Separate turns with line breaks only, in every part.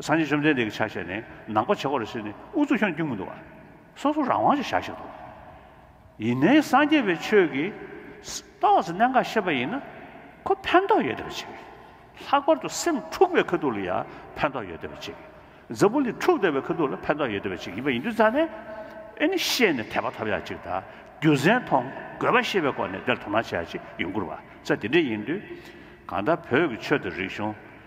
སངས་རྒྱས་བཅོམ་ལྡན་འདས་ཀྱི་ཕྱག་བཞེས་ནི་ནང་པ་བྱེད་པ་རེད་ཟེར་ནས་ཨུ་ཚུགས་ཁྱོད་རྒྱུད་མི་འདུག་བ། སོ་སོ་རང་དབང་ཅིག་བཞག་ཤིག་དོ། ཡིན་ནའི་སངས་རྒྱས་པའི་ཆོས་ཀྱི། རྟོགས་ཟིན་གནད་འགག་ཤེས་པ་ཡིན་ན། ཁོ་ཕན་ཐོགས་ཡོད་བསྡད་པ་ཅིག། ལྷག་པར་དུ་སེམས་འཁྲུགས་པའི་ཁ་ཐུག་ལ་ཡང་ཕན་ཐོགས་ཡོད་བསྡད་པ་ཅིག། འཛམ་བུ་གླིང་འཁྲུགས་བསྡད་པའི་ཁ་ཐུག་ལ་ཕན་ཐོགས་ཡོད་བསྡད་པ་ཅིག་ཡིན་པ་ཡིན་དུས་རྩ་ནས། ཨེ་ནི་ཤེས་ནས་དད་པ་ཐོབ་ཡག་ཅིག་དང་རྒྱུ་མཚན་མཐོང་དགོས་པ་ཤེས་པའི་སྒོ་ནས་དེར་དོ་སྣང་བྱ་ཡག་ཅིག་ཡོང་ཁུར་བ་ཚ་དེ་འདྲས་ཡིན་དུས། གང་ལྟར་བོད་ཀྱི་ཆོས་དང་རིག་གཞུང།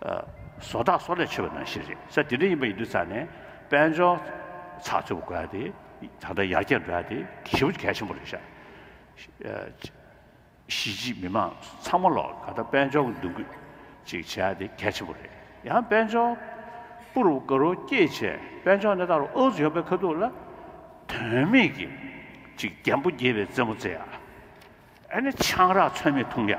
བཟོ་གྲྭ་སོགས་ལས་ཆོད་པ་ནང་བཞིན་རེད་ས་དེ་འདྲ་ཡིན་པ་ཡིན་དུས་ཚར་ནས་དཔལ་འབྱོར་ཚགས་ཚུད་པ་དགོས་ཡ་དེ་ད་ལྟ་ཡར་རྒྱས་འགྲོ་ཡ་དེ་གལ་བོ་གལ་ཆེན་པོ་རེད་ཤག་གཞིས་བྱེས་མི་མང་ཚང་མ་ལོག་ད་ལྟ་དཔལ་འབྱོར་གྱི་འདུ་འགོད་ཅིག་བྱེད་ཡ་དེ་གལ་ཆེན་པོ་རེད་ཡང་དཔལ་འབྱོར་པུ་རུ་ཀ་རུ་སྐྱེས་བྱས་དཔལ་འབྱོར་གནས་སྟངས་རུ་ཨོ་ཟི་ཡོང་པའི་ཁ་ཐུག་ལ་དོན་མེད་ཀྱི་ཅིག་རྒྱན་པོ་རྒྱས་པའི་རྩེད་མོ་རྩེ་ཡ་ཨ་ནི་ཆང་རག་ཚོད་མེད་འཐུང་ཡ་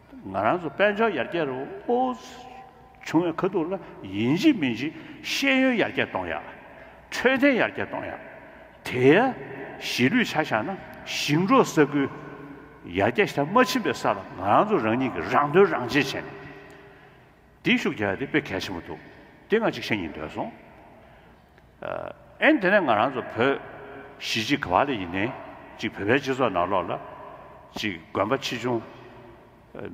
ང་རང་ཚོ་དཔལ་འབྱོར་ཡར་རྒྱས་རུ་བྱུང་བའི་ཁ་ཐུག་ལ་ཡིན་གཅིག་མིན་གཅིག་ཤེས་ཡོན་ཡར་རྒྱས་གཏོང་ཡ། འཕྲོད་བསྟེན་ཡར་རྒྱས་གཏོང་ཡ། དེའི་གཞིས་ལུས་ཆ་བཞག་ན་ཞིང་འབྲོག་ས་ཁུལ་ཡར་རྒྱས་ཤ་མ་ཕྱིན་པའི་ས་ལ་ང་རང་ཚོ་རང་ཉིད་ཀྱི་རང་དོན་རང་གཅེས་བྱས་ནས་འདི་ཤུགས་རྒྱག་ཡ་དེ་དཔེ་གལ་ཆེན་པོ་འདུག་དེ་ང་གཅིག་བཤད་ཉིན་འདོད་སོང། ཨེ། དེ་ནས་ང་རང་ཚོ་བོད་གཞིས་གཅིག་གི་བ་ལས་ཡིན་ནའི་ཅིག་བོད་པའི་སྤྱི་ཚོགས་ནང་ལོགས་ལ་ཅིག་དགོན་པ་ཆེ་ཆུང་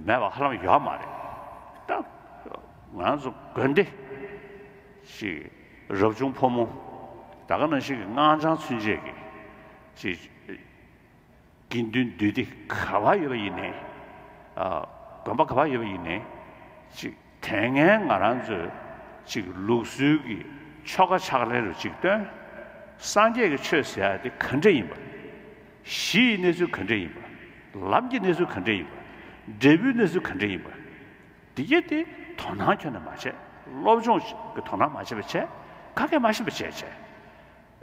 མེད་པ་ཧ་ལམ་ཡོད་མ་རེད་ད། ང་རང་ཚོ་དགོན་སྡེ་ཅིག་རབ་བྱུང་ཕོ་མོ་ད་ག་ནང་བཞིན་གྱི་སྔགས་འཆང་ཚུན་ཆད་ཀྱི་ཅིག། དགེ་འདུན་བདུད་སྡེ་ག་བ་ཡོད་པ་ཡིན་ནས། དགོན་པ་ག་བ་ཡོད་པ་ཡིན་ནས། ཅིག་དེ་ངས་ང་རང་ཚོའི་ཅིག་ལུགས་སྲོལ་གྱི་ཆོ་ག་ཕྱག་ལེན་རུ་ཅིག་སྟོན། སངས་རྒྱས་ཀྱི་ཆོས་ཟེར་དེ་ག་འདྲས་ཡིན་པ། གཞི་ཡི་གནས་ཚུལ་ག་འདྲས་ཡིན་པ། ལམ་གྱི་གནས་ཚུལ་ག་འདྲས་ཡིན་པ། འབྲས་བུའི་གནས་ཚུལ་ག་འདྲས་ཡིན་པ། འདི་གས་དེ་དོ་སྣང་ཁྱོན་ནས་མ་བྱས་སློབ་སྦྱོང་གི་དོ་སྣང་མ་བྱས་པ་བྱས་ག་གས་མ་ཤེས་པ་བྱས་བྱས།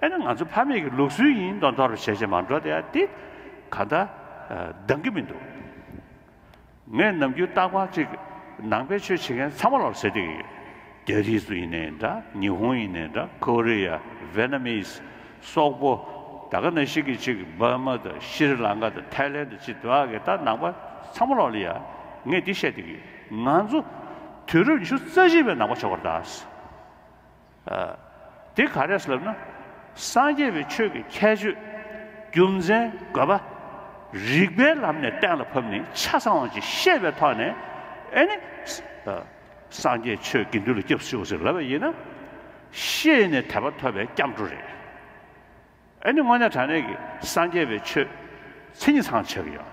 ཨེ་ན་ང་ཚོ་ཕ་མེས་ཀྱི་ལུགས་སྲོལ་ཡིན་མདོག་མདོག་རུ་བྱས་བྱས་མ་འགྲོ་དེ་དེ་ག་ད་འདང་གི་མི་འདུག་ངས་ནམ་རྒྱུན་ལྟ་སྐོར་ཅིག་ནང་པའི་ཆོས་བྱེད་མཁན་ཚང་མ་ལ་ཟེར་དགོས་ཀྱི་ཡོད། རྒྱ་རིགས་སུ་ཡིན་ནའི་འདྲ་ཉི་ཧོང་ཡིན་ནའི་འདྲ་ཀོ་རི་ཡ་བེ་ན་མིས་སོག་པོ་ད་ག་ན་ཞིག་གི་ཅིག་འབར་མ་དང་ཤི་རི་ལང་ཀ་དང་ཐའི་ལན་དང་ཅི་དག་གི་ད་ནང་པ་ཚང་མ་ལ་ལ་ཡ་ངས་འདི་བཤད་དགོས་ཀྱི་ཡོད་ང་ཚོ་དུས་རབས་ཉི་ཤུ་རྩ་བཞི་པའི་ནང་པ་ཆགས་པར་གདའ། འདི་ག་རེ་ལབ་ན། སངས་རྒྱས་པའི་ཆོས་ཀྱི་ཁྱད་ཆོས། རྒྱུ་མཚན་དགོས་པ། རིགས་པའི་ལམ་ནས་གཏན་ལ་ཕབ་ནས་ཆ་ཚང་བ་ཅིག་ཤེས་པའི་ཐོག་ནས། ཨེ་ནི། སངས་རྒྱས་ཆོས་དགེ་འདུན་ལ་སྐྱབས་སུ་མཆིའོ་ཟེར་ལབ་པ་ཡིན་ན། ཤེས་ནས་དད་པ་ཐོབ་པའི་སྐྱབས་འགྲོ་རེད། ཨེ་ནི་དངོས་གནས་དྲང་གནས་ཀྱི་སངས་རྒྱས་པའི་ཆོས། མཚན་ཉིད་ཚང་ཆགས་ཀྱི་ཡོད།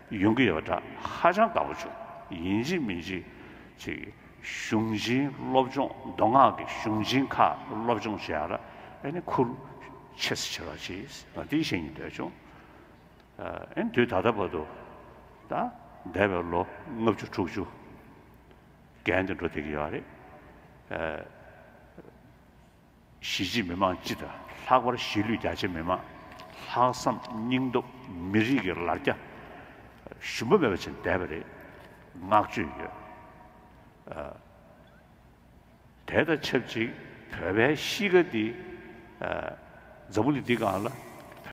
ཡོང་གི་ཡོད་པ་འདྲ་ཧ་ཅང་དགའ་པོ་བྱུང་ཡིན་གཅིག་མིན་གཅིག་ཅིག་གཞུང་ཆེན་སློབ་སྦྱོང་མདོ་སྔགས་ཀྱི་གཞུང་ཆེན་ཁག་སློབ་སྦྱོང་བྱས་ཡག་ལ་ཨེ་ནི་ཁུར་ཆེ་སེ་ཆེ་རོགས་ཅེས་ང་དེ་བཤད་ཉིན་འདོད་བྱུང་ཨེ་ནི་དུས་ད་ལྟ་བར་དུ་ད་འདས་པའི་ལོ་ལྔ་བཅུ་དྲུག་ཅུ་བརྒལ་འདི་འགྲོ་བསྡད་ཀྱི་ཡོད་རེད། གཞིས་བྱེས་མི་མང་སྤྱི་དང་ལྷག་པར་གཞིས་ལུས་རྒྱ་ཆེ་མི་མང་ལྷག་བསམ་སྙིང་སྟོབས་མི་རིགས་ཀྱི་ལར་རྒྱ་ཞུམ་པ་མེད་པ་བྱེད་བསྡད་པ་རེད་བསྔགས་བརྗོད་ཡོད། དེ་དང་ཆབས་ཅིག་བོད་པའི་གཤིས་ཀ་འདི། འཛམ་བུ་གླིང་འདི་གང་ལ།